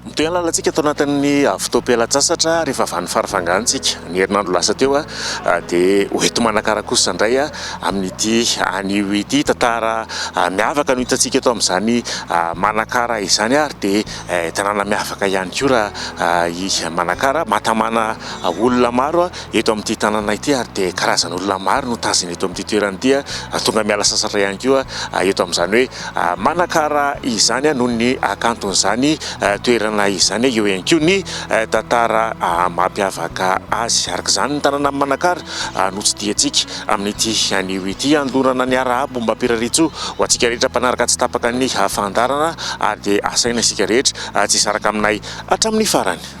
Mitohy ny lalantsika ato anatin'ny fotoam-pialan-tsasatra ary efa vany faravangantsika. Ny herinandro lasa teo dia ho ety Manakara kosa indray amin'ity anio ity. Tantara miavaka no hitantsika eto amin'izany Manakara izany ary dia tanàna miavaka ihany koa raha i Manakara. Mahatamana olona maro eto amin'ity tanàna ity ary dia karazan'olona maro no tazana eto amin'ity toerana ity ary tonga miala sasatra ihany koa eto amin'izany hoe... Manakara izany noho ny hakanton'izany toerana izany eo ihany koa ny tantara mampiavaka azy. Araka izany, ny tanànan'i Manakara no tsidihantsika amin'ity anio ity. Handondràna ny arahabo mba am-pirarian-tsoa ho antsika rehetra mpanaraka tsy tapaka ny fandaharana ary dia asaina isika rehetra tsy hisaraka aminay hatramin'ny farany.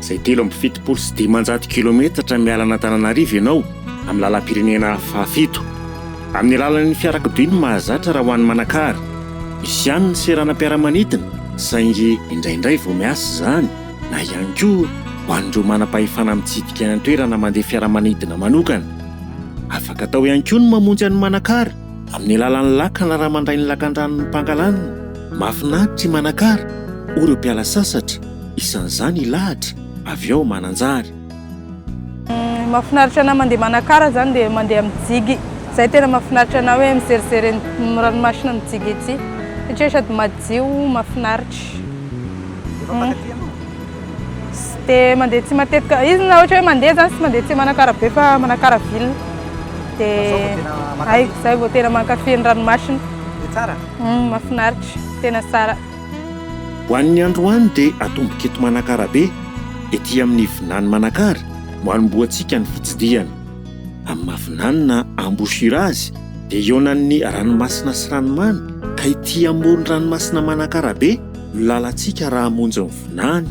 izay telo amby fitopolo sy dimanjato kilometatra miala an'Antananarivo ianao amin'ny lalam-pirenena fahafito. Amin'ny alalan'ny fiarakodia no mahazatra raha ho an'i Manakara. Misy ihany ny seranam-piaramanidina saingy indraindray vao miasa izany na ihany koa ho an'ireo manam-pahefana mitsidika ny toerana mandeha fiaramanidina manokana. Afaka atao ihany koa ny mamonjy an'i Manakara amin'ny alalan'ny lakana raha mandray ny lakandranon'i Pangalanina. Mahafinaritra i Manakara, hoy ireo mpiala sasatra. Isan'izany i Lahatra, avy ao Mananjary. Ny mahafinaritra anahy mandeha Manakara izany dia mandeha mijigy. Izay tena mahafinaritra anahy hoe mizerizery ny ranomasina mijigy ety satria sady madio, mahafinaritra. Efa mpankafy ianao? Tsy dia mandeha aty matetika. Izy na ohatra hoe mandeha izany tsy mandeha aty Manakara be fa Manakara ville. Dia izay vao tena mankafy ny ranomasina. Dia tsara? Mahafinaritra, tena tsara. Ho an'ny androany dia atomboka eto Manakara be, ety amin'ny vinany Manakara no anombohantsika ny fitsidihana. Amin'ny maha vinanina embouchure azy dia ihaonan'ny ranomasina sy ranomamy ka ety amoron-dranomasina Manakara be no lalantsika raha hamonjy ny vinany.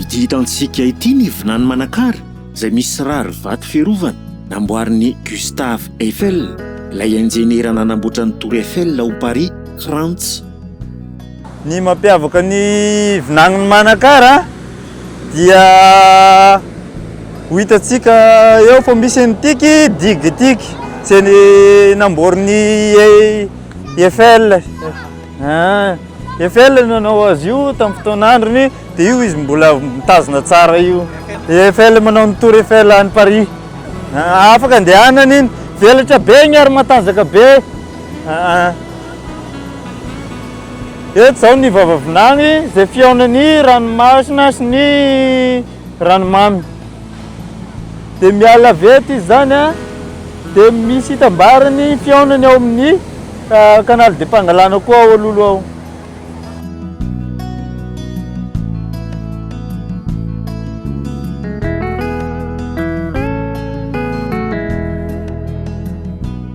Ity hitantsika ity ny vinany Manakara izay misy rarivato fiarovana namboarin'i Gustave Eiffel, ilay injeniera nanamboatra ny Tour Eiffel ao Paris, Frantsa. Ny mampiavaka ny vinanin'i Manakara dia ho hitantsika eo fa misy an'ity digue ity izay namboarin'i Eiffel, ah, Eiffel no nanao azy io tamin'ny fotoan'androny, dia io izy mbola mitazona tsara io. Eiffel manao ny Tour Eiffel any Paris. Ah, afaka andehanana iny, velatra be iny ary matanjaka be. Ah, ah. Eto izao ny vava vinany izay fihaonan'ny ranomasina sy ny ranomamy dia miala avy eto izy izany dia misy hitambarany fihaonany ao amin'ny canal de Pangalana koa ao Lolo ao.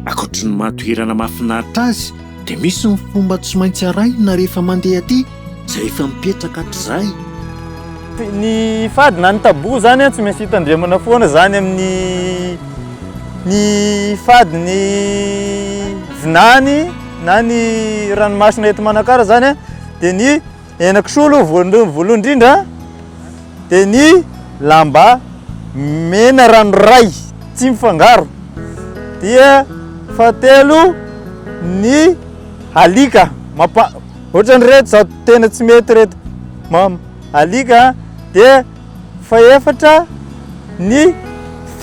Ankoatry ny maha toerana mahafinaritra azy dia misy ny fomba tsy maintsy arahina rehefa mandeha aty. Izay efa mipetraka hatrizay. Ny fady na ny tabou zany an tsy maintsy hitandremana foana zany amin'ny ny fady ny vinany na ny ranomasina eto Manakara zany an dia ny henakisoa aloha voalohany voalohany indrindra dia ny lamba mena ranoray tsy mifangaro dia fahatelo ny alika mapa Ohatrany reto zao tena tsy mety reto mama alika dia fahefatra ny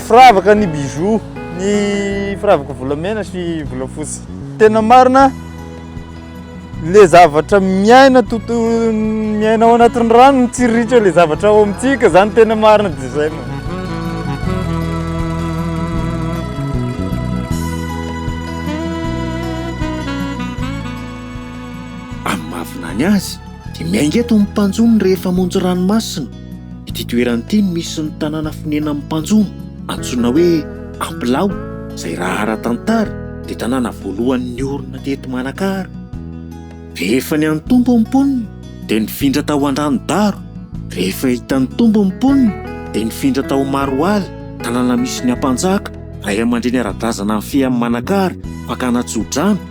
firavaka ny bijoux ny firavaka volamena sy volafotsy tena marina le zavatra miaina toto miaina ao anatin'ny rano mitsiriritra le zavatra ao amintsika zany tena marina de zay mama Amin'ny maha-vinany azy dia miainga eto ny mpanjono rehefa hamonjy ranomasina. Ity toerana ity no misy ny tanàna fonenan'ny mpanjono antsoina hoe Ampilaho izay raha ara-tantara dia tanàna voalohany niorina teto Manakara. Rehefa ny an'ny Tompo ny mponina dia nifindra tao Andranodaro. Rehefa hitan'ny Tompo ny mponina dia nifindra tao Maroala, tanàna misy ny Ampanjaka, raiamandreny ara-drazana nifehy an'i Manakara fakana tso-drano.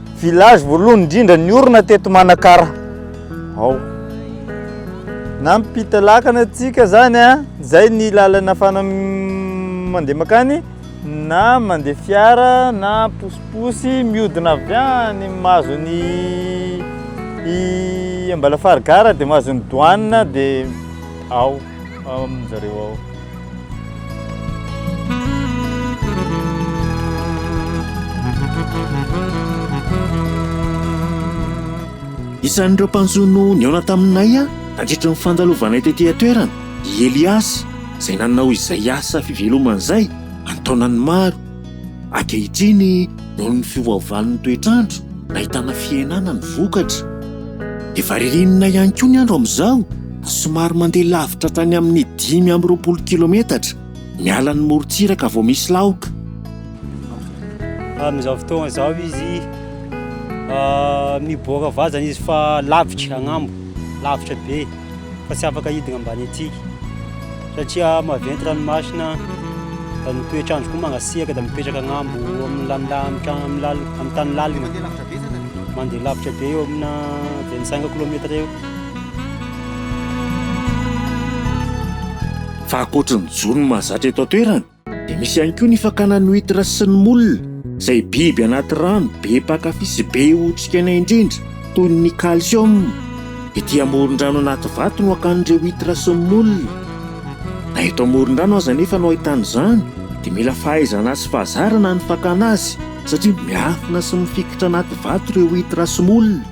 Village voalohany indrindra niorina teto Manakara ao. Nampita lakana antsika zany a, zay ny lalana fana mandeha makany na mandeha fiara na posiposy miodina avy any mahazo ny i Ambalafary gara dia mahazo ny douane dia ao. ao amin zareo ao. Isan'ireo mpanjono nihaona taminay nandritra ny fandalovanay tety an-toerana i Eliasy izay nanao izay asa fivelomana izay an-taonany maro. Ankehitriny, noho ny fiovaovan'ny toetr'andro, nahitana fihenana ny vokatra. Efa ririnina ihany koa ny andro amin'izao ka somary mandeha lavitra hatrany amin'ny dimy amby roapolo kilometatra miala ny morontsiraka vao misy laoka. Amin'izao fotoana izao izy miboaka vazana izy fa lavitra agnambo, lavitra be. fa tsy afaka hidina ambany antsika, satria maventy ranomasina, da ny toetr'andro koa mangasiaka, da mipetraka agnambo amin'ny lanila am tra- am lal- am tany lalina, mandeha lavitra be eo amina vingt cinq kilometre eo. Fa ankoatry ny jono mahazatra eto an-toerana, Dia misy ihany koa ny fakana ny huitre sy ny moule, izay biby anaty rano be mpankafy sy be otrikaina indrindra toy ny calcium. Ety amoron-drano anaty vato no hakan'ireo huitre sy ny moule. Na eto amoron-drano aza anefa no ahitana izany dia mila fahaizana sy fahazarana ny fakana azy satria miafina sy mifikitra anaty vato ireo huitre sy moule.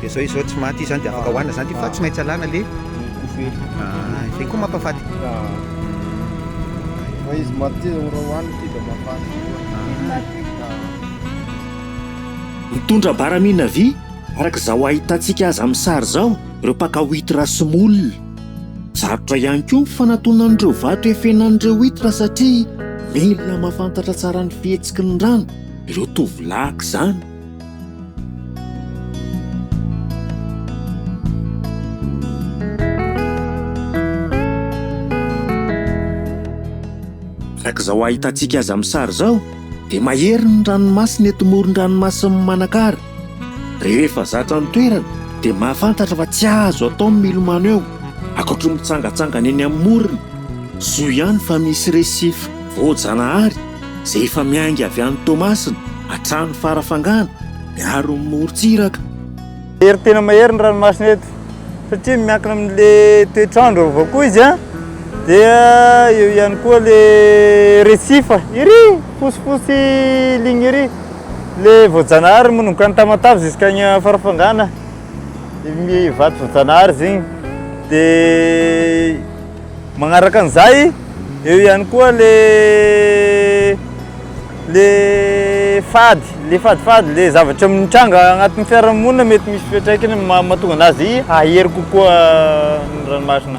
Dia izao izy izao tsy maty izy izany dia afaka hohanina izany dia fa tsy maintsy alana le kofehy. Ah, izay koa mampafaty. Fa izy maty izy raha hohanina ity dia mahafaty koa. Mitondra baramina vy, araka izao ahitantsika azy amin'ny sary izao, ireo mpaka huitre sy moule. Sarotra ihany koa ny fanatonan'ireo vato efenan'ireo huitre satria mila mahafantatra tsara ny fihetsiky ny rano ireo tovolahy aoka izany. Araka izao ahitantsika azy amin'ny sary izao dia mahery ny ranomasina eto moron-dranomasin'i Manakara. Rehefa zatra ny toerana dia mahafantatra fa tsy azo atao ny milomano eo, ankoatry ny mitsangatsangana eny amin'ny morony. Soa ihany fa misy resify voajanahary. izay efa miainga avy any Toamasina hatrany Farafangana miaro ny morontsiraka. Mahery tena mahery ny ranomasina eto satria miankina amin'ilay toetr'andro avy koa izy an, dia eo ihany koa ilay recife iry fosifosy ligne iry, ilay voajanahary manomboka any Tamatave jusqu'any Farafangana, vato voajanahary izy iny dia. Magnaraka an'izay, eo ihany koa le le fady, le fadifady, le zavatra mitranga agnatin'ny fiarahamonina mety misy fiantraikany mahatonga anazy hahery kokoa ny ranomasina.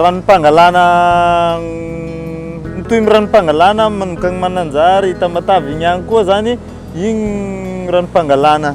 Ranom-pangalana Mitohy ny ranom-pangalana manomkany Mananjary, Tamatave igny agny koa zany igny ranom-pangalana.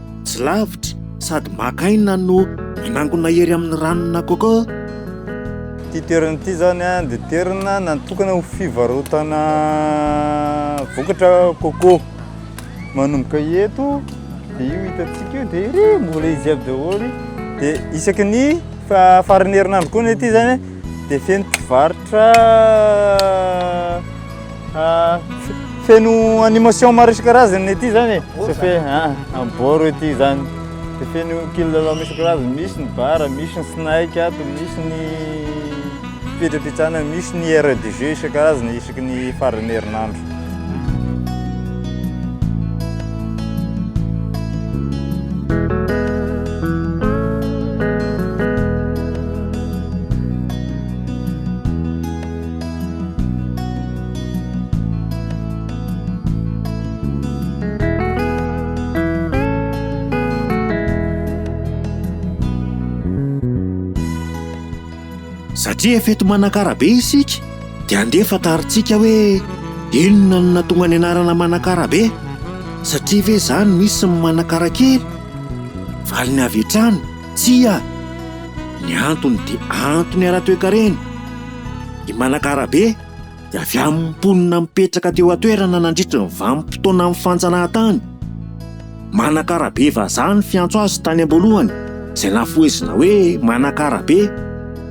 Tsy lavitra sady maka aina no manangona hery amin'ny ranona coco. Ity toerana ity zany a dia toerana natokana ho fivarotana vokatra coco. Manomboka eto dia io hitantsika io dia iry mbola izy aby daholo. Dia isaky ny fa- faran'ny herinandro koa ny aty zany dia feno mpivarotra. Fa feno animation maro isan-karazany ity zany e. Tsy fe ah, boro ity zany. Dia feno kilalao misy karazany, misy ny bara, misy ny snake ato, misy ny fipetrapetsana, misy ny aire de jeu isan-karazany isaky ny faran'ny herinandro. Satria efa eto Manakara be isika dia andeha fantarintsika hoe inona no nahatonga ny anarana Manakara be. Satria ve izany misy ny Manakara kely? Valiny avy hatrany. Tsia! Ny antony dia antony ara-toekarena. I Manakarabe dia avy amin'ny mponina mipetraka teo an-toerana nandritry ny vanim-potoanan'ny fanjanahantany. Manakarabe vazaha ny fiantso azy tany am-boalohany, izay nafohezina hoe Manakarabe,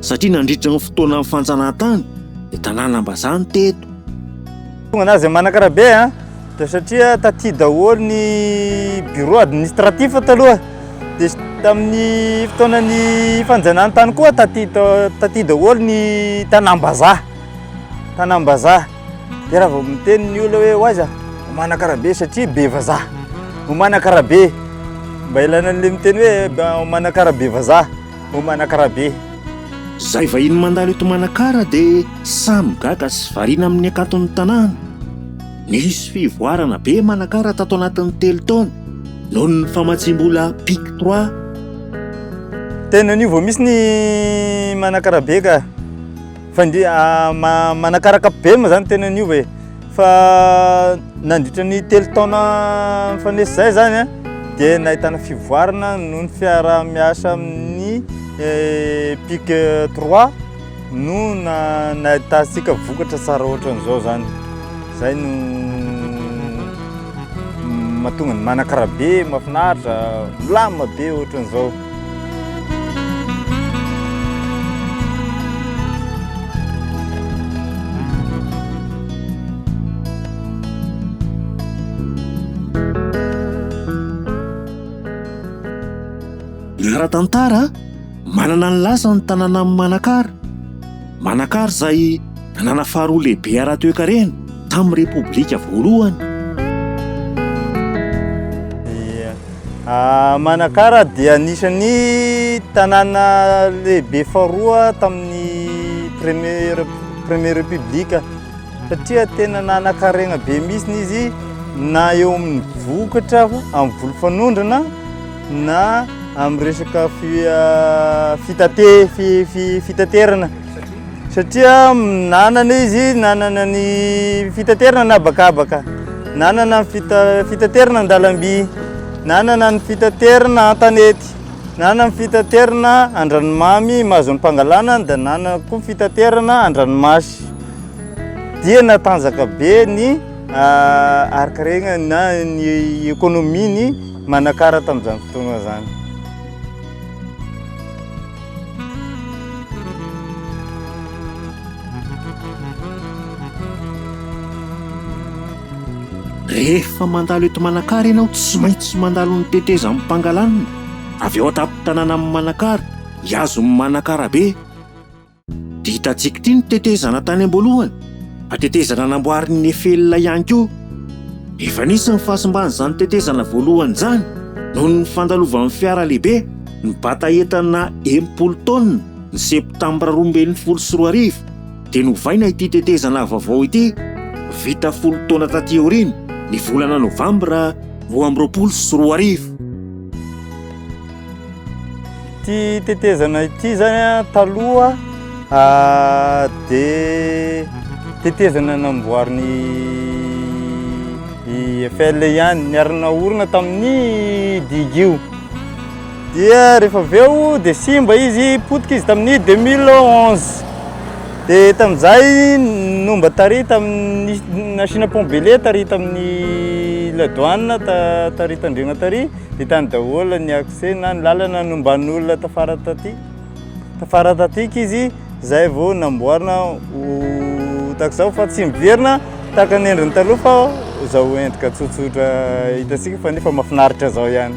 satria nandritry ny fotoanan'ny fanjanahantany dia tanànam-bazaha no teto. Tonga nazy Manakarabe an! Dia satria taty daholo ny bureau administratif taloha, dia tamin'ny fotoanan'ny fanjanahantany koa taty taty daholo ny tanàm-bazaha, tanàm-bazaha. Dia raha vao miteny ny olona hoe ho aiza, ho Manakarabe satria be vazaha, ho Manakarabe, mba ilaina an'ilay miteny hoe ho Manakarabe vazaha, ho Manakarabe. Izay vahiny mandalo eto Manakara dia samy gaga sy variana amin'ny hakanton'ny tanàna. Nisy fivoarana be manakara tato anatin'ny telo taona noho ny famatsiam-bola pic trois. Tena anio vao misy ny manakara be ka. Fa indri- ah, ma- manakaraka be moa zany tena niova e. Fa nandritra ny telo taona mifanesy izay zany a, dia nahitana fivoarana noho ny fiaraha-miasa amin'ny pic trois. No nahitantsika vokatra tsara ohatran'izao zany, zay no mahatonga ny manakara be, mahafinaritra, milamina be ohatran'izao. Ara-tantara, Manana ny lasany ny tanànan'i Manakara. Manakara izay tanàna faharoa lehibe ara-toekarena tamin'ny Repoblika voalohany. Manakara dia anisan'ny tanàna lehibe faharoa tamin'ny première première république satria tena nanan-karena be mihitsy izy na eo amin'ny vokatra amin'ny volofanondrana na amin'ny resaka fitaterana satria nanana izy nanana ny fitaterana na bakabaka nanana fitaterana an-dalamby nanana ny fitaterana an-tanety nanana ny fitaterana an-dranomamy mahazon'ny mpangalana dia nanana koa fitaterana an-dranomasy dia natanjaka be ny arikaregna na ny ekonomian'ny Manakara tamin'izany fotoana izany. Rehefa mandalo eto Manakara ianao tsy maintsy mandalo ny tetezan'i Pangalanina, avy ao an-tampon-tanànan'i Manakara, hihazo ny Manakarabe. Dia hitantsika ity ny tetezana tany am-boalohany, fa tetezana namboarin'i Nefela ihany koa. Efa nisy ny fahasimban'izany tetezana voalohany izany noho ny fandalovan'ny fiara lehibe nibata entana enimpolo taonina ny Septambra roa ambin'ny folo sy roa arivo, dia novaina ity tetezana vaovao ity vita folo taona taty aoriana ny volana Novambra roa amby roapolo sy roa arivo. Ity tetezana ity zany a, taloha dia tetezana namboarin'i Eiffel ihany, niarina orina tamin'ny digue io. Dia rehefa avy eo dia simba izy, potika izy tamin'ny 2011. Dia tamin'izay no mba tary tamin'ny nasiana pont be lait tary tamin'ny la douane tary Tandrema tary. Vitany daholo ny accès na ny lalana nomban'ny olona tafara taty. Tafara tatika izy zay vao namboarina ho takizao fa tsy miverina tahaka ny endriny taloha fa zao endrika tsotsotra hitantsika fa nefa mafinaritra zao ihany.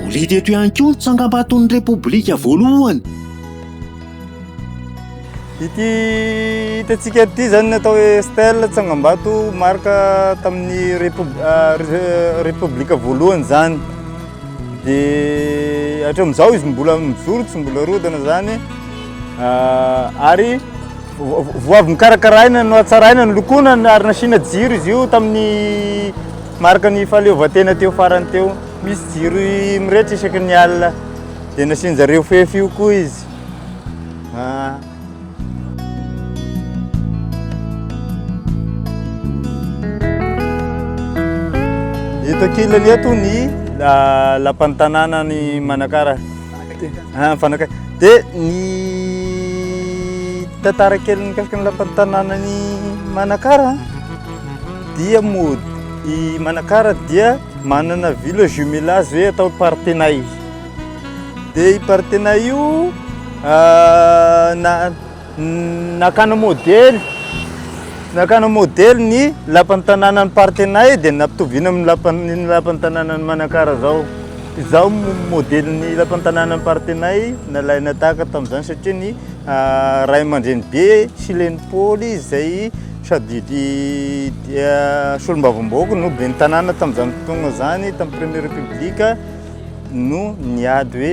Moridy eto ihany koa ny tsangambaton'ny Repoblika voalohany. Ity hitantsika ity izany ny atao hoe stèle tsangambato marka tamin'ny Repoblika voalohany izany. Dia hatramin'izao izy mbola mijoro, tsy mbola rodana izany. Ary Vao avy nokarakaraina, nohatsaraina, nolokoina ary nasiana jiro izy io tamin'ny marika ny fahaleovantena teo farany teo. Misy jiro mirehitra isaky ny alina, dia nasian-jareo fefy io koa izy. Ah. Eto ankilany eto ny ah, lapan'ny tanànan'i Manakara. Mpanakaiky. Dia ny tantara kely mikasika ny lapan'ny tanànan'i Manakara dia mody i Manakara dia manana village jumelage hoe atao Partenay. Dia i Partenay io na Nakana modely Nakana modely ny lapan'ny tanànan'i Partenay dia nampitoviana amin'ny lapan'ny lapan'ny tanànan'i Manakara izao. Izao no modelin'ny lapan'ny tanànan'i Partenay nalaina tahaka tamin'izany satria ny ray aman-dreny be sy le ny Paoly izay sady solombavambahoaka no ben'ny tanàna tamin'izany fotoana izany tamin'ny premier repoblika no niady hoe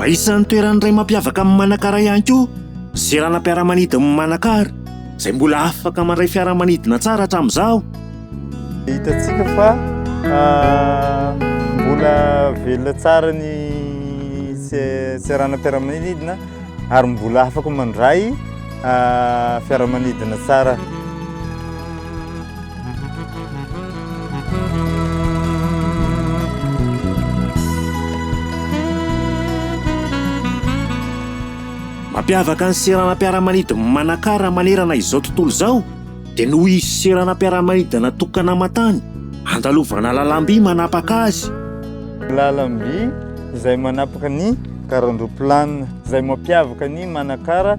Fa isan'ny toeran'ny iray mampiavaka an'i Manakara ihany koa ny seranam-piaramanidin'i Manakara izay mbola afaka mandray fiaramanidina tsara hatramin'izao. Hitantsika fa mbola velona tsara ny seranam-piaramanidina ary mbola afaka mandray fiaramanidina tsara. Mampiavaka ny seranam-piaramanidin'i Manakara manerana izao tontolo izao dia noho izy seranam-piaramanidina natokana aman-tany handalovana lalam-by manapaka azy. Lalam-by izay manapaka ny garan-droplanina izay mampiavaka an'i Manakara.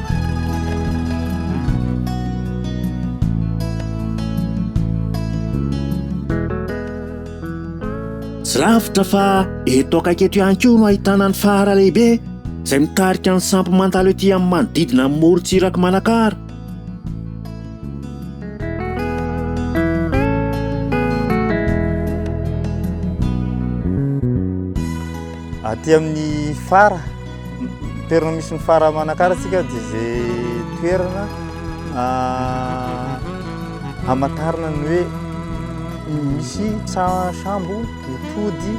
Tsy lavitra fa eto akaiky eto ihany koa no ahitana ny fara lehibe izay mitarika ny sampy mandalo ety amin'ny manodidina ny morontsirak'i Manakara. Aty amin'ny fara. Toerana misy ny fara manakarantsika dia izay toerana hamantarana ny hoe misy tsa- sambo mitody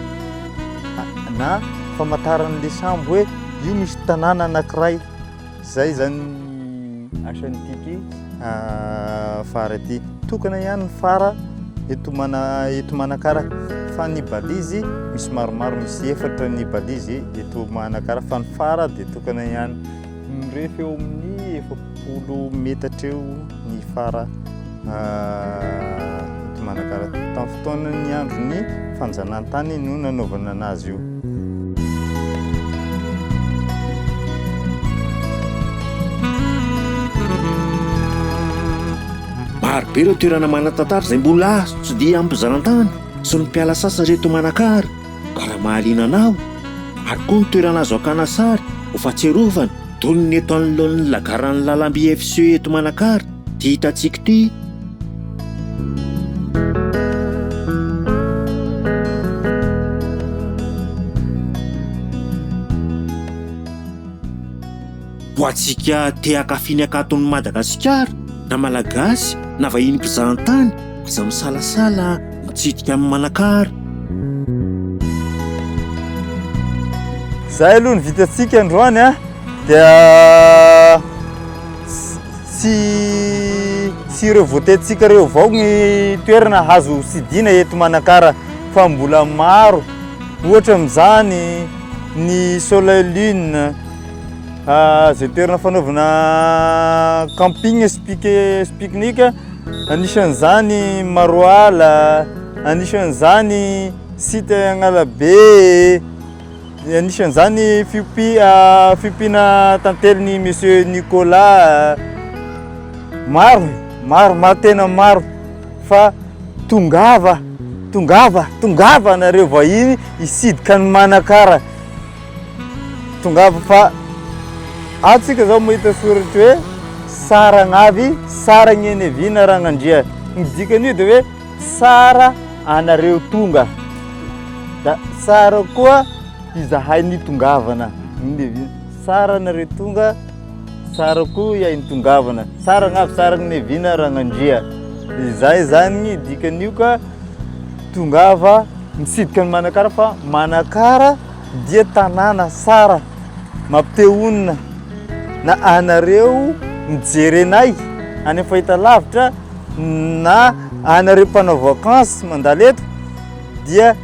na famantaran'ilay sambo hoe io misy tanàna anankiray. Izay izany asan'ny TP. Fara ity tokana ihany ny fara eto mana eto manakara fa ny balizy misy maromaro misy efatra ny balizy eto manakara fa ny fara dia tokana ihany mirefy eo amin'ny efapolo metatra eo ny fara ah, eto Manakara. Tamin'ny fotoanan'ny andron'ny fanjanahantany no nanaovana anazy io. Maro be ireo toerana manan-tantara izay mbola azo tsidihina amin'ny mpizarantany sy ny mpiala sasatra eto Manakara ka raha mahaliana anao ary koa ny toerana azo hakana sary ho fahatsiarovana toy ny eto anoloan'ny lagaran'ny lalamby FCE eto Manakara Ity hitantsika ity. Ho antsika te hankafy ny hakanton'i Madagasikara, na Malagasy na vahiny mpizahantany, aza misalasala mitsidika an'i Manakara. Izay aloha ny vitantsika androany an! Dia Tsy tsy ireo voatetintsika ireo avao ny toerana azo sidina eto Manakara fa mbola maro. Ohatra amin'izany ny Soleil Lune, izay toerana fanaovana camping sy pique-nique, anisan'izany Maroala, anisan'izany site Agnalabe. Anisan'izany fiompiana tantely ny Monsieur Nicolas. Maro, maro, maro tena maro fa tongava, tongava, tongava nareo vahiny hisidika ny Manakara. Tongava fa atsika zao mahita soratra hoe Saragnavy, Saragnenevina Ragnandria. Ny dikan'io dia hoe Tsara anareo tonga da tsara koa izahay nitongavana. Tsara anareo tonga, tsara koa ihay nitongavana. Tsara angavy tsara ny nevina Ragnandria. Izay zany dikan'io ka tongava mitsidika ny Manakara fa Manakara dia tanàna tsara mampite honina na anareo mijery anay any amin'ny fahitalavitra Na anareo mpanao vacance mandalo eto dia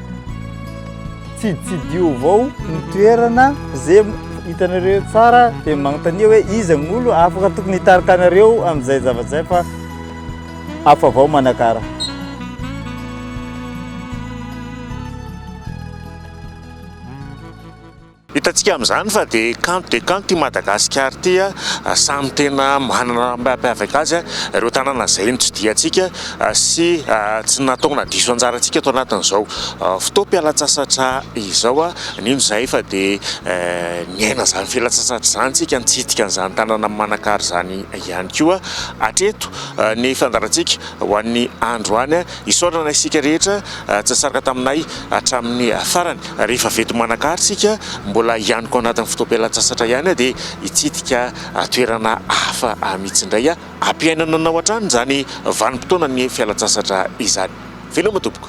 tsiditsidio avao ny toerana ze hitanareo tsara dia manontania hoe iza ny olo afaka tokony hitarika anareo amin'izay zavatra izay fa hafa avao manakara. Hitantsika amin'izany fa dia kanto dia kanto ity Madagasikara ity, samy tena manana ny mampiavaka azy ireo tanàna izay notsidihitsika sy tsy nataona diso anjarantsika tao anatin'izao fotoam-pialantsasatra izao. Nino izahay fa dia niaina izany fialantsasatra izany isika, nitsidika an'izany tanàna manan-kary izany ihany koa hatreto ny fandaharantsika ho an'ny androany. Isaorana isika rehetra tsy nisaraka taminay hatramin'ny farany. Rehefa vety manan-kary isika, mbola hianiko anatin'ny fotoam-pialan-tsasatra ihany aho dia hitsidika toerana hafa mihitsy indray. Hampiainana anao hatrany izany vanim-potoanan'ny fialan-tsasatra izany. Veloma tompoko.